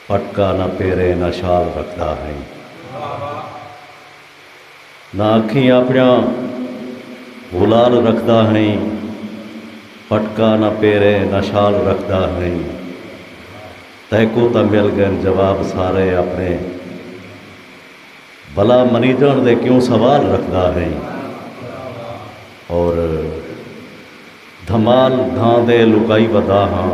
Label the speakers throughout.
Speaker 1: پٹکا نہ پیریں نہ شال رکھدا ہئیں نہ اکھیں اپنیاں غلال رکھدا ہئیں پٹکا نہ پیریں نہ شال رکھدا ہئیں تیکوں تاں مل گئن جواب سارے اپنے بھلا منیجنڑ دے کیوں سوال رکھدا ہئیں اور دھمال دھاں دے لکائی ودا ہاں۔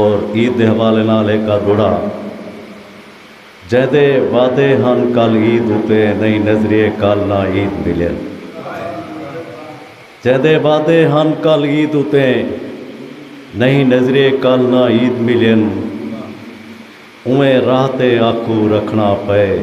Speaker 1: اور عید دے حوالے نال ہک ادھوڑا جیندے وعدے ہن کل عید اتے نئی نظریے کل نہ عید ملین جیندے وعدے ہن کل عید اتے نئی نظریے کل نہ عید ملین اویں راہ تے آکھو رکھنا پئے۔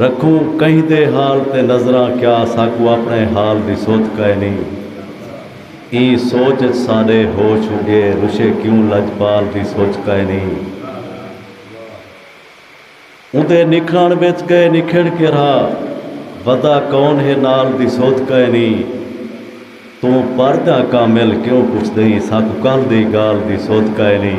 Speaker 1: رکھوں کہیں دے حال تے نظراں کیا ساکوں اپنڑے حال دی سدھ کائنی ایں سوچ اچ ساڈے ہوش اگے رشے کیوں لجپال دی سوچ کائنی اوندے نکھڑنڑ وچ گئے نکھڑ کے رھا ودا کون ہے نال دی سدھ کائنی توں پر جاں کامل کیوں پچھدئیں ساکوں کل دی گال دی سدھ کائنی۔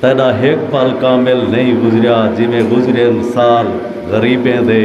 Speaker 1: تیݙا ہک پل کامل نئیں گزریا جیویں گزرین سال غریبیں دے۔